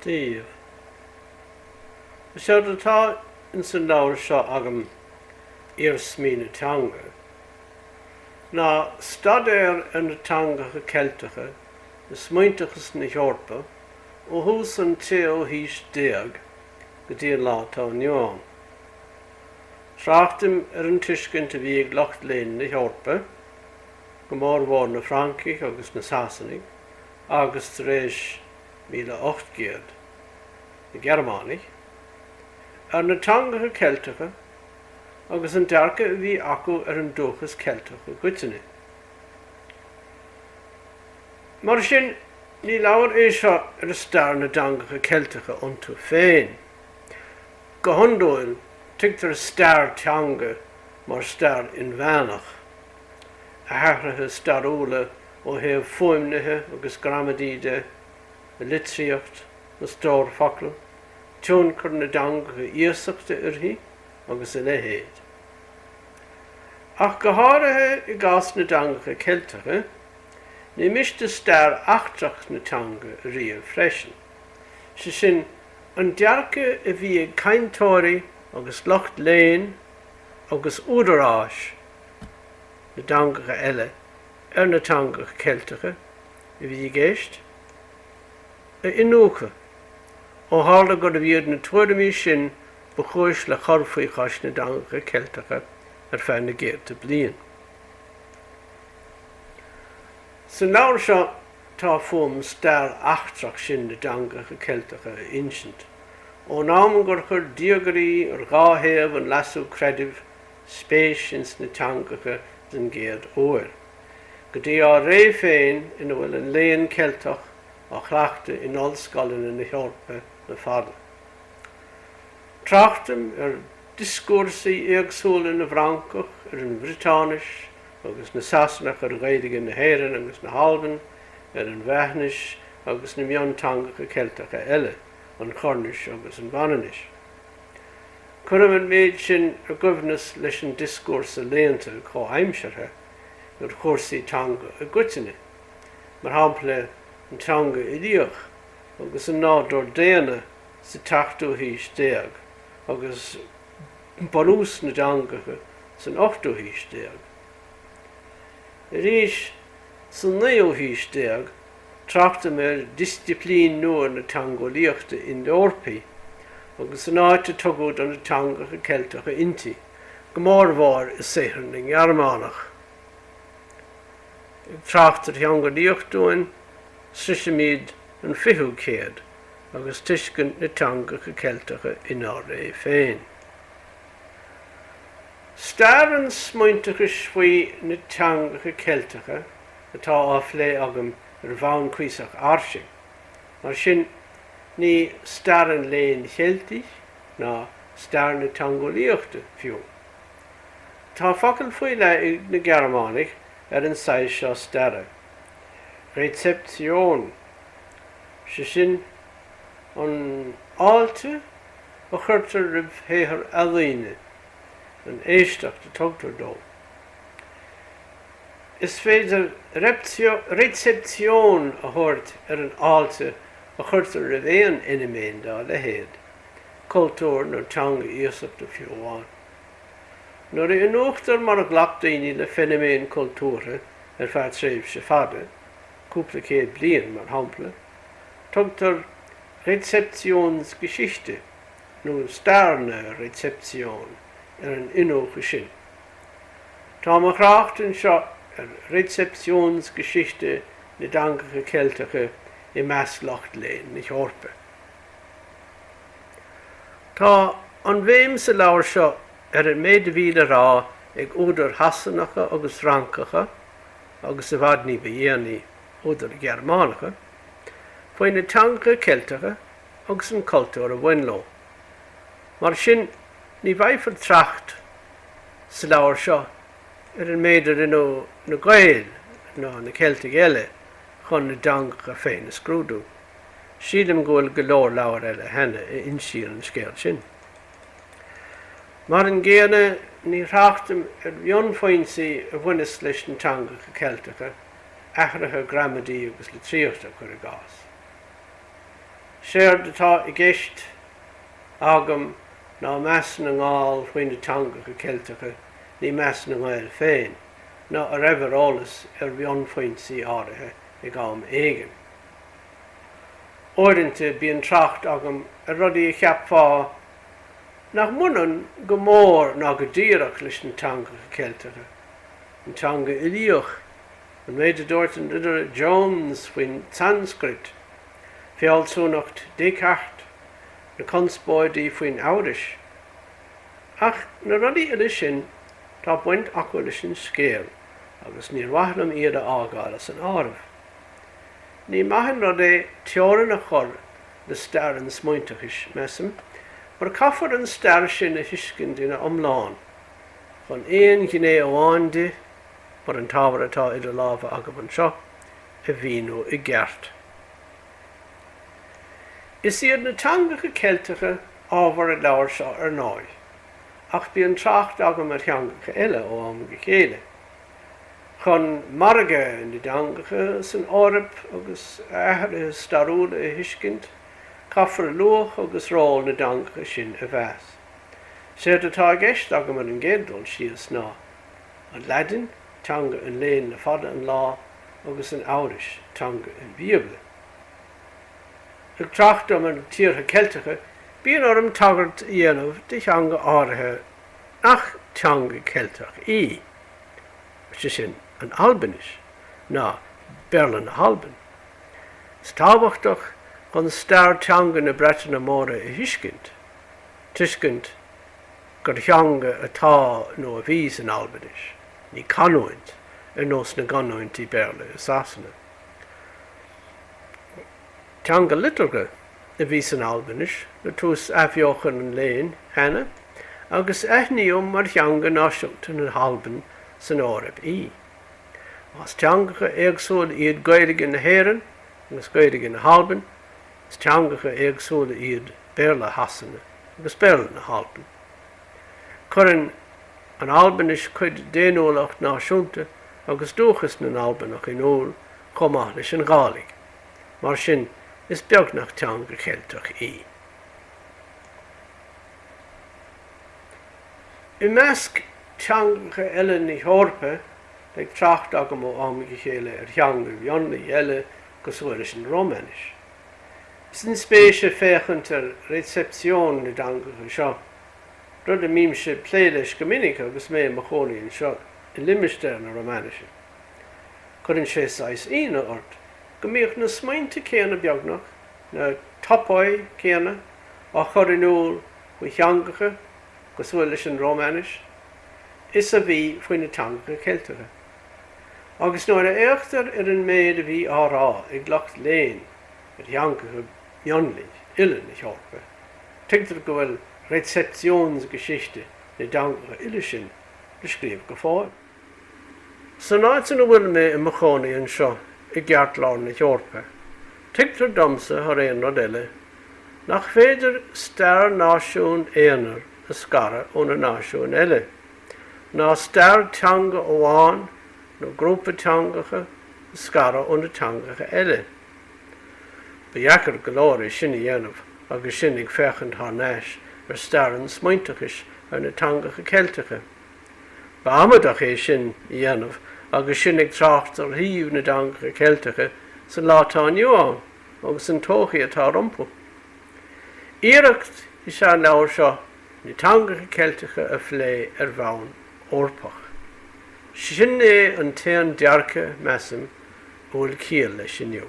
díobh. Is éard atá ins an leabhar seo agam, Iarsmaí na Teanga, ná staidéar ar na teangacha Ceilteacha i smaointeachas na hEorpa ó thús an tséú haois déag go dtí an lá atá inniu ann. Tráchtaim ar an tuiscint a bhí ag lucht léinn na hEorpa, go mórmhór na Francaigh agus na Sasanaigh, agus tar éis, míle ocht gcéad, na Gearmánaigh, ar na teangacha Ceilteacha agus an dearcadh a bhí acu ar an dúchas Ceilteach i gcoitinne. Mar sin, ní leabhar é seo ar stair na dteangacha Ceilteacha iontu féin. Go hiondúil, tuigtear stair teanga mar stair inmheánach. a hathruithe stairiúla ó thaobh fuaimnithe agus gramadaí de, a litríocht, a stór focal, tionchar na dteangacha iasachta uirthi agus a leithéid. Ach go háirithe i gcás na dteangacha Ceilteacha, ní miste stair eachtrach na teanga a ríomh freisin, sé sin, an dearcadh a bhí ag cainteoirí agus lucht léinn agus údaráis na dteangacha eile ar na teangacha Ceilteacha a bhí i gceist, a iniúchadh, ó tharla gurbh iad na tuairimí sin ba chúis le cur faoi chois na dteangacha Ceilteacha ar feadh na gcéadta bliain. San leabhar seo tá fúm stair eachtrach sin na dteangacha Ceilteacha a insint, ón am gur chuir diagairí ar dhá thaobh an Leasú Creidimh, spéis ins na teangacha den gcéad uair, go dtí ár ré féin ina bhfuil an Léann Ceilteach á chleachtadh in ollscoileanna na hEorpa le fada. Tráchtaim ar dhioscúrsaí éagsúla na bhFrancach ar an Bhriotáinis agus na Sasanach ar Ghaeilge na hÉireann agus na hAlban, ar an Bhreathnais agus na mionteangacha Ceilteacha eile, an Choirnis agus an Mhanainnis. Cuireadh an méid sin i gcoibhneas leis an dioscúrsa léannta comhaimseartha ar chúrsaí teanga i gcoitinne, mar shampla an teanga uilíoch agus an nádúr daonna sa tseachtú haois déag agus bunús na dteangacha san ochtú haois déag. Arís sa naoú haois déag, Tráchtaim ar dhisciplín nua na teangeolaíochta Ind-Eorpaí agus an áit a tugadh do na teangacha Ceilteacha inti, go mórmhór i saothar na nGearmánach. Ag trácht ar theangeolaíocht dúinn, sroisimid an 20ú céad agus tuiscint na teangacha Ceilteacha inár ré féin. Stair an smaointeachais faoi na teangacha Ceilteacha. atá á phlé agam ar bhonn cuíosach fhairsing. Mar sin, ní stair an Léinn Cheiltigh, ná stair na teangeolaíochta fiú. Tá focal faoi leith ag na Gearmánaigh ar an saghas seo staire, Rezeption, sé sin, an fháilte a chuirtear roimh shaothar ealaíne, an éisteacht a tugtar dó. Is féidir Rezeption a thabhairt ar an fháilte a chuirtear roimh aon fheiniméan dá leithéid, cultúr nó teanga iasachta fiú amháin. Nuair a iniúchtar mar a ghlac daoine le feiniméin chultúrtha ar feadh tréimhse fada, cúpla céad bliain, mar shampla, tugtar Rezeptionsgeschichte nó stair na Rezeption ar an iniúchadh sin. Tá mo thrácht anseo ar Rezeptionsgeschichte na dteangacha Ceilteacha i measc lucht léinn na hEorpa. Tá an bhéim sa leabhar seo ar an méid a bhí le rá ag údair Shasanacha agus Fhrancacha agus, i bhfad ní ba dhéanaí, údair Ghearmánacha, faoi na teangacha Ceilteacha agus an cultúr a bhain leo. Mar sin. Ní bhfaighfear trácht sa leabhar seo ar an méid a rinneadh na Gaeil ná na Ceiltigh eile chun a dteangacha féin a scrúdú. Sílim go bhfuil go leor leabhar eile cheana a insíonn an scéal sin. Mar an gcéanna, ní thráchtaim ar bhunfhoinsí a bhaineas leis na teangacha Ceilteacha, athruithe gramadaí agus litríochta, cuir i gcás. Séard atá i gceist agam ná meas na nGall faoi na teangacha Ceilteacha, ní meas na nGael féin, ná an raibh eolas ar bhunfhoinsí áirithe ag am éigin. Uaireanta bíonn trácht agam ar rudaí a cheapfá nach mbaineann go mór ná go díreach leis na teangacha Ceilteacha, an teanga uilíoch An méid a dúirt an Ridire Jones faoin tSanscrait, fealsúnacht Descartes, na conspóidí faoin Eabhrais. Ach na rudaí uile sin, tá baint acu leis an scéal agus níor mhaith liom iad a fhágáil as an áireamh. Ní maith an rud é teorainn a chur le stair an smaointeachais, measaim, mar caithfear an stair sin a thuiscint ina iomlán chun aon ghné amháin di mar an t-ábhar atá idir lámha agam anseo, a mhíniú i gceart. Is iad na teangacha Ceilteacha ábhar an leabhair seo ar ndóigh, ach bíonn trácht agam ar theangacha eile ó am go chéile, chun margadh na dteangacha san Eoraip agus a athruithe stairiúla a thuiscint, caithfear luach agus ról na dteangacha sin a mheas. Séard atá i gceist agam ar an gcéad dul síos ná. An Laidin, teanga an léinn le fada an lá, agus an Eabhrais, teanga an Bhíobla. Ag trácht dom ar na tíortha Ceilteacha, bíonn orm tagairt a dhéanamh do theanga áirithe nach teanga Cheilteach í, sé sin, an Albainis, nó Béarla na hAlban. Is tábhachtach chun stair teanga na Breataine Móire a thuiscint, tuiscint gur theanga atá nó a bhí san Albainis, ní canúint, ar nós na gcanúintí Béarla i Sasana. Teanga liteartha a bhí san Albainis le tús Athbheochan an Léinn cheana agus aithníodh mar theanga náisiúnta na hAlban san Eoraip í. Más teangacha éagsúla iad Gaeilge na hÉireann agus Gaeilge na hAlban, Is teangacha éagsúla iad Béarla Shasana agus Béarla na hAlban. Cuireann an Albainis cuid d'fhéiniúlacht náisiúnta agus dúchas na nAlbanach in iúl chomh maith leis an Ghàidhlig, mar sin is beagnach teanga Cheilteach í. I measc teangacha eile na hEorpa, beidh trácht agam ó am go chéile ar theanga mhionlaigh eile cosúil leis an Rómainis. Is inspéise féachaint ar recepción na dteangacha seo, rud a mbímse ag plé leis go minic agus mé i mo chónaí anseo i limistéar na Rómainise. Cuireann sé saghas ionadh ort go mbíodh na smaointe céanna beagnach, na topoi céanna, á chur in iúl faoi theangacha cosúil leis an Rómainis is a bhí faoi na teangacha Ceilteacha. Agus nuair a fhéachtar ar an méid a bhí á rá ag lucht léinn ar theangacha mionlaigh uile na hEorpa, tuigtear go bhfuil Rezeptionsgeschichte na dteangacha uile sin le scríobh go fóill. San áit ina bhfuil mé i mo chónaí anseo i gceartlár na hEorpa, tuigtear domsa thar aon rud eile nach féidir stair náisiún aonair a scaradh ó na náisiúin eile. ná stair teanga amháin nó grúpa teangacha a scaradh ó na teangacha eile. Ba dheacair go leor é sin a dhéanamh agus sinn ag féachaint thar n-ais ar stair an smaointeachais ar na teangacha Ceilteacha. Ba amaideach é sin a dhéanamh agus sinn ag trácht ar shuíomh na dteangacha Ceilteacha sa lá atá inniu ann agus an todhchaí atá rompu. Iarracht is ea an leabhar seo Na teangacha Ceilteacha a phlé ar bhonn Eorpach. Sin é an t-aon dearcadh, measaim, a bhfuil ciall leis inniu.